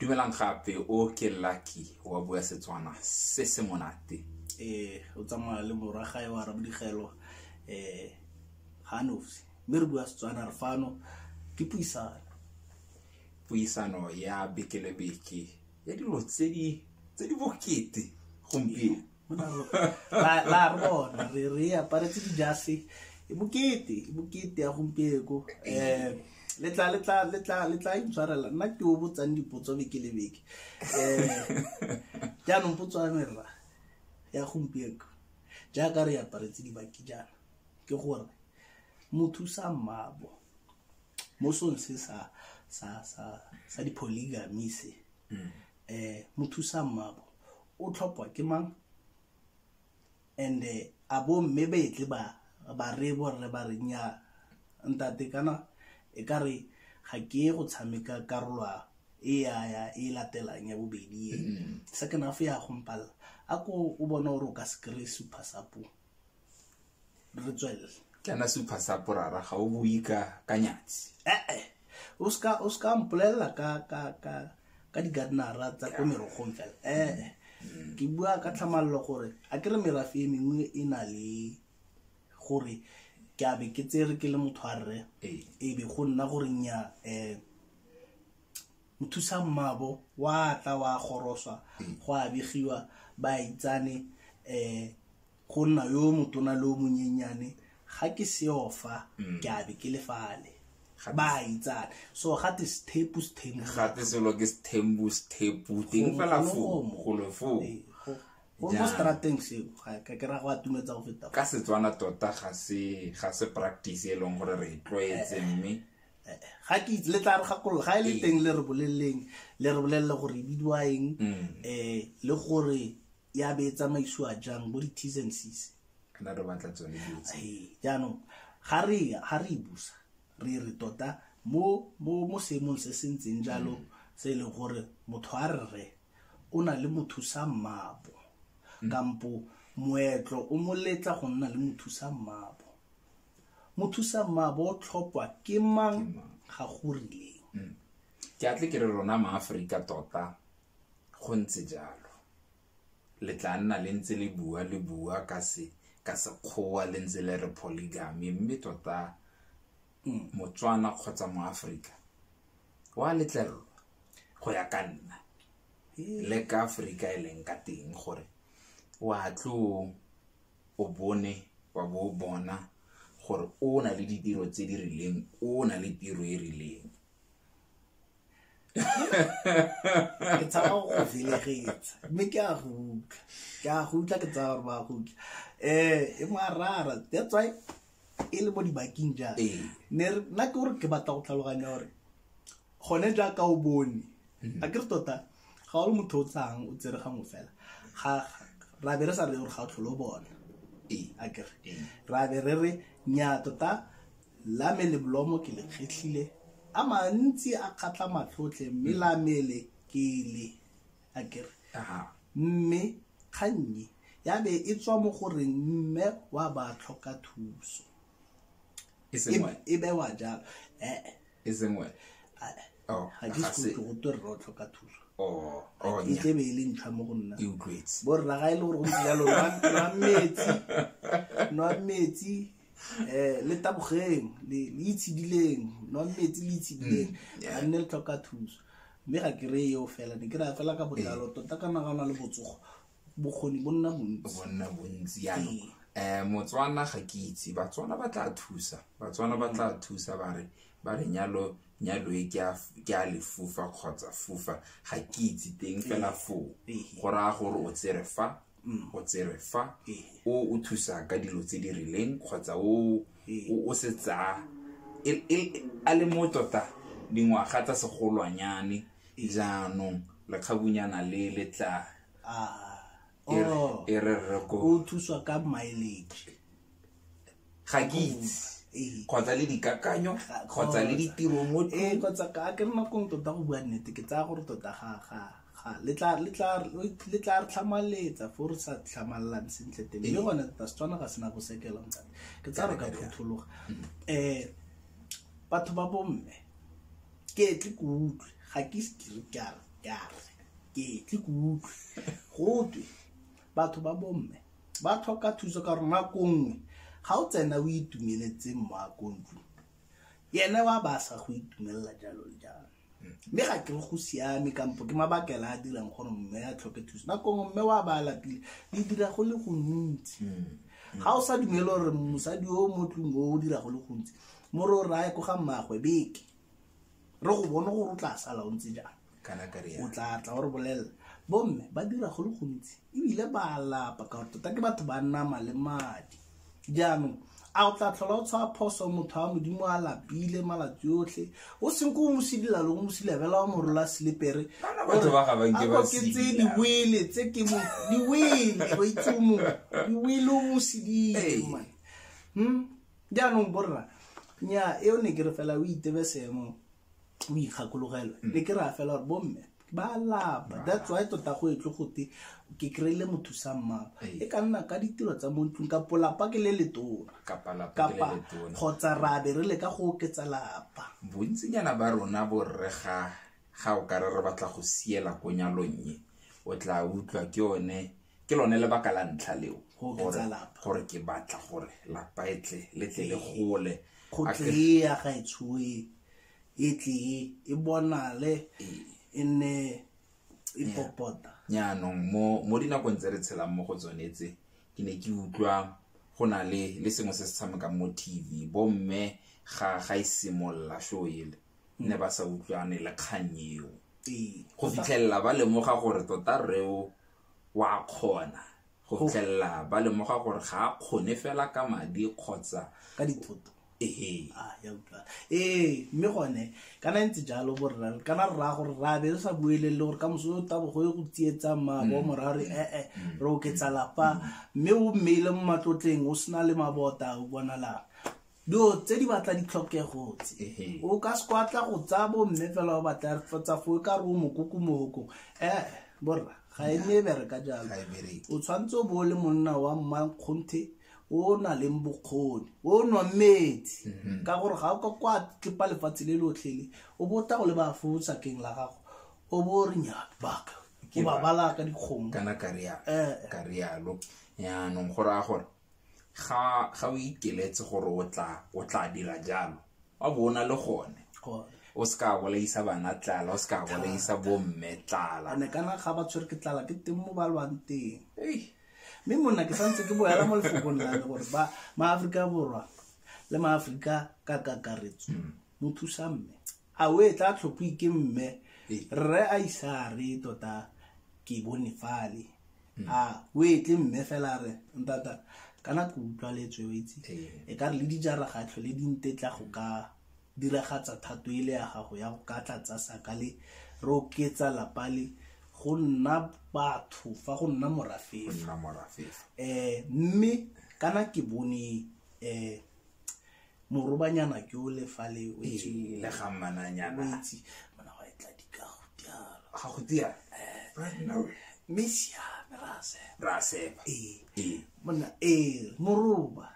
dumelang gape o ke lucky wa bua setswana se se monate eh o tsamaya le morwa gae wa rabodigelo um eh, ga nosi mme re bua setswana re fano ke puisano puisano ya bekelebeke ya dilo tse di bokete gompieno la re bona re re aparetse dijase e bokete e bokete ya gompieko um eh, letla letla letla letla intshwarela nna ke o botsang dipotso beke le beke um jaanong potso ya merra ya gompieko jaaka re aparetse dibaki jaana ke gore motho sa mmabo mo song se sa sa sa sa dipholygamy se mm. um mothusa mmabo o tlhopwa ke mang and eh, a bo mme betle ba ba re bo rre ba re nya ntate kana e ka re ga ke go tshameka karolwa e ya ya e latelang ya bobedi e second half ya gompalla a ko o bona gore o ka se kry super sapo re tswelele kana supha sa porara ga o bui ka ka nyatsi ee eh, eh. o ska o ska mpolelela ka ka ka ka di gardenera tsa ko merogong fela ee eh, ke bua ka tlhamalelo gore a ke re merafe e mengwe e na le gore ke a be ke tsere ke le motho a rre e be go nna gore nya um mothusa mmabo wa tla wa goroswa go a begiwa ba itsane um go nna yo motona le o monyenyane ga ke seofa mm. ke a be ke lefale ba itsane so gate sethepu sethemugate selo ke sethembu sethepu teng fela foo golo foo eh, mo strateng seo ka ke ra go atumetsa go feta ka setswana tota ga se ga se practice e leng gore re e tlwaetse eh, eh. mme eh, ga ke itse le tla re gakolola ga e le ee. teng le re boleleng le re bolelele gore e bidiwa eng um mm. eh, le gore ya be e tsamaisiwa jang bo di-ts and cs kana re batla tsone ee, jaanong ga re ga re e busa re re tota mo mo mo seemong se se ntseng jalo mm. se e leng gore motho a re re o na le mothusa mmabo mm. kampo moetlo o moletla go nna le mothusa mmabo mothusammaabo o tlhopwa ke mang ga go rileng mm. ke atle ke re rona maaforika tota go ntse jalo le tla nna le ntse le bua le bua ka se ka sekgowa le ntse le re polygamy mme tota mm. motswana kgotsa moaforika wa letlelelwa go ya ka nna le ka aforika e leng ka teng gore wa tlo o bone wa bo o bona gore o na le ditiro tse di rileng o na le tiro e rileng ke tshaba go go felegetsa mme ke a go utlwa ke a go utlwa ke tsaya gore ba go utlwa um e moarara that's why e le mo dibakeng jang ee. ne nna ke gore ke batla go tlhaloganya gore gone jaaka o bone a ke re tota ga o le motho o tsang o tsere gangwe fela ga ra be re sa re gore ga o tlholo bona ee a ke re Ee. ra be re re nya tota lame le bolomo ke le kgetlhile a mantsi a kgatlha matlhotlhe mme lamele ke le a ke re Aha. mme kgannye ya be e tswa mo gore mme wa ba tlhoka thuso e sengwe e bewa jalo ee e seng wena oh, ga ke se go twe rra o tlhoka thuso oh, oh, e tlebe e le ntlha mo go nna e utlwetse borra ga e le gore go ntse jalo nwa metsi nwa metsi eh le tabogeng le itshidileng nwa metsi le itshidileng mm, ga nne le tlhoka thuso mme ga ke re eo fela ne ke raya fela ka botlalo eh. tota ka nagana le botsogo bokgoni bo nna bontsi bo nna bontsi yanong um eh, motswana ga ke itse batswana ba tla thusa batswana ba tla thusa ba re ba re nyalo nyalo e ke a lefufa kgotsa fufa ga ke itse teng fela foo go raya gore o tsere fa mm. o tsere fa o o thusa ka dilo tse di rileng kgotsa o o se tsaya e, e, a le mo tota dingwaga tsa segolwanyane jaanong lekgabunyana le le tla Ah, E re- oh, e re rre ko o thuswa ka mileage ga ke itse Ee. kgotsa le dikakanyo Ga- kgotsa le ditiro mo ee kgotsa ka ke re nakong tota go bua nnete ke tsaya gore tota ga ga ga le tla le tla le tla re tlhamaletsa fo re sa tlhamalelang sentle teng mme gone tota setswana ga sena go sekela ntate ke tsaya re ka phuthologa um batho ba bomme ke tle ke utlwe ga ke ise ke re ke a re ya ke tle ke utlwe gotwe batho ba bomme ba tlhoka thuso ka gore nako nngwe ga o tsena o itumeletseng mo akontlo yene wa ba sa go itumelela jalo le jalo mme ga ke go siame kampo ke mabakela a dirang gore mme a tlhoke thuso nako nngwe mme wa ba lapile di dira go le gontsi mm. ga o sa dumele gore mosadi o mo tlong o o dira go le gontsi mo re o raya ko ga mmaagwe beke re go bone gore o tla sala o ntse jang o tla tla o re bolelela bomme ba dira go le gontsi ebile ba lapa ka gore tota ke batho ba nama le madi jaanong a o tla tlhola o tshwa phoso motho wa modimo a lapile malatsi otlhe o seng ko o mosidila loko mosilabela wa morola selepere akoketse diwele tse ke diwele o itse o mongwe diwele o mosidile hmm? jaanong borra nya eo ne ke re fela o itebe seemo o ikgakologelwe mm. ne ke re a fela gore bomme ba lapa that's why tota go etle gote ke kry-ile motho sa mmapa e ka nna ka ditiro tsa mo ntlong kapo lapa ke le letona kapa kgotsa ra be re le ka go oketsa lapa bontsinyana ba rona borre ga ga o kare re batla go siela ko nyalong e o tla utlwa ke one ke lone lebaka la ntlha leo gore ke batla gore lapa e tle le tle le gole go tlee ya gaetshoe e tlee e bonale e nne e popota jaanong mo dinakong tse re tshelang mo go tsone tse ke ne ke utlwa go na le le sengwe se se tshamekang mo tv bomme ga ga e simolola sho ele mm. ne ba sa utlwane le kgang eo go fitlhelela ba lemoga gore tota reo o a kgona go fitlhelela ba lemoga gore ga a kgone fela ka madi kgotsa ka dithoto ee ah, ee mme gone kana ntse jalo borra kana rra gore ra be re sa buelele gore ka moso tabo go ye go tsietsa mabo mm. mora re ee eh, eh, mm. re oketsa lapa mm. mme o mmeile mo matlotleng o sena le mabota o bonala dilo tse di batla ditlhokego tse o ka se kwatla go tsaya bo mme fela ba batla tsa fo e ka re o mokoko mogokong ee eh, borra ga e nne e bereka jalo e o tshwanetse o bo o le monna wa mmankgonthe o na leng bokgoni o nwa metsi mhm. ka gore ga o ka kwa tlipa lefatshe le lotlhele o bo o tla go le ba fo sakeng la gago o bo o re nyabaka o babalaka dikgomo kana karialo eh, eh. yaanong go raya gore ga ga o ikeletse gore o tla o tla dira jalo wa bo o na le gone o se ka bolaisa bana tlala o se ka bolaisa bomme tlala ane kana ga ba tshwere ke tlala ke teng mo ba lwang teng mme monna ke santse ke boela mo lefokong lane gore ba maaforika borwa le maaforika ka kakaretso mm. mo thusa mme a o e tla tlhophi ke mme rre a isa re tota ke bone fale hmm. a o e tle mme fela re ntata kana ke utlwa letswe o itse e ka re le dijara ga tlhole di ntetla go ka diragatsa thato e le ya gago ya go ka tlatsa saka le re oketsa lapa le go nna batho fa go nna morafefa um eh, mme kana ke bone um morobanyana ke o le fa le o itse Ee, le ga o mmananyana itse mona wa etla dikago dialo ga go tia right now mme siame rase ra sepa ee ee monna ee moroba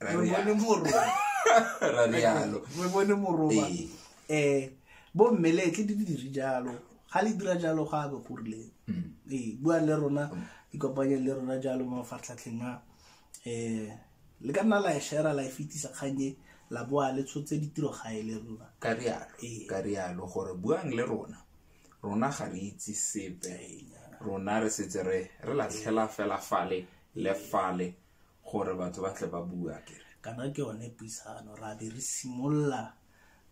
Ra re rialo. bone moroba ra rialo re bone moroba Ee. eh bo mmeletle di dire jalo ga le dira jalo ga be go rileng ee bua le rona ikopanye le rona jalo mo mafatlhatlheng a um le ka nna la e shera la e fetisa kgang e la boa le tshotse ditiro gae le rona ka rialo Ee. ka rialo gore buang le rona rona ga re itse sepe rona re setse re re latlhela fela fale le fale gore batho ba tle ba bua kere kana ke yone puisano ra be re simolola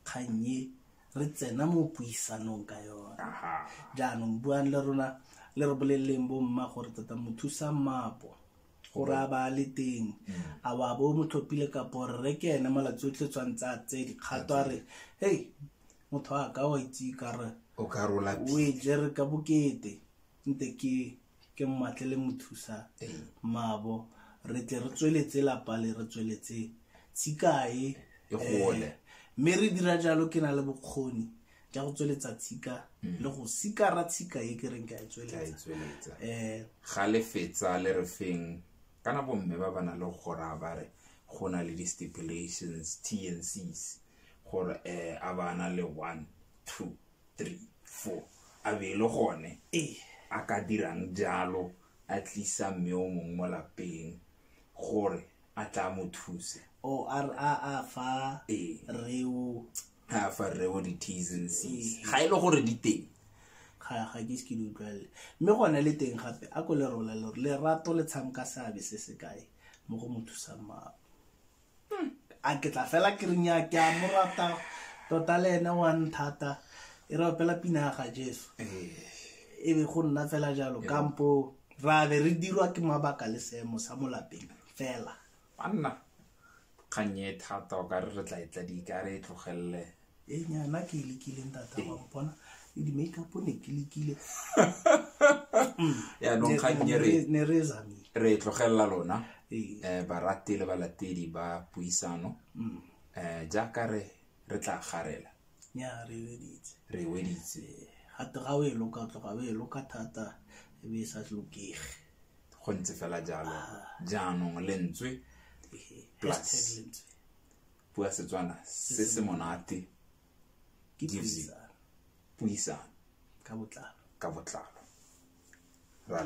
kgang e re tsena mo puisanong ka yone aha jaanong buang le rona le re boleleleng bomma gore tota mothusa mmapo gore a ba le teng mm. a wa bo mo tlhophile kapo re ke ene malatsi o tletswang tsa tse dikgato a re hei motho a ka wa itse ka re o ka rola o e jere ka bokete nte ke ke mmatle le mo thusa mabo re tle re tsweletse lapa le re tsweletse tsikae e gole eh, mme re dira jalo ke na le bokgoni ja go tsweletsa tshika mm. le go sikara tshika e ke reng ka e tsweletsa um ga le fetsa le re feng kana bomme ba ba na le gora ba re go na le di-stipulations t and cs gore um a ba na le one two three four a be e le gone eh. a ka dirang jalo a tlisa mme o mongwe mo lapeng gore a tla mo thuse o a fa reo a fa rre bo di-ts and cs ga e le gore di teng ga ga ke se ke di utlwalele mme gone le teng gape a ko le rola le gore lerato le tshamka seabe se se kae mo go mo thusang mao a ke tla fela ke reng ya ke a mo rata tota le ene wa nthata e re opela pina ya ga jesu e be go nna fela jalo kampo ra be re dirwa ke mabaka le seemo sa mo lapeng fela banna kgang e thata o kare re tla e tladika re e tlogelele e nyana ke e lekileng tata wa mpona le di-makeup ne ke lekile yaanong kgang e re ne re e zamile re e tlogelela lona Ee. um barati le balatedi ba puisano um jaaka re re tla garela nya re weditse re weditse gate ga o e loka tloga o e loka thata e be e sa tlokege go ntse fela jalo jaanong lentswe plus bua setswana se se monate gives you puisano ka botlalo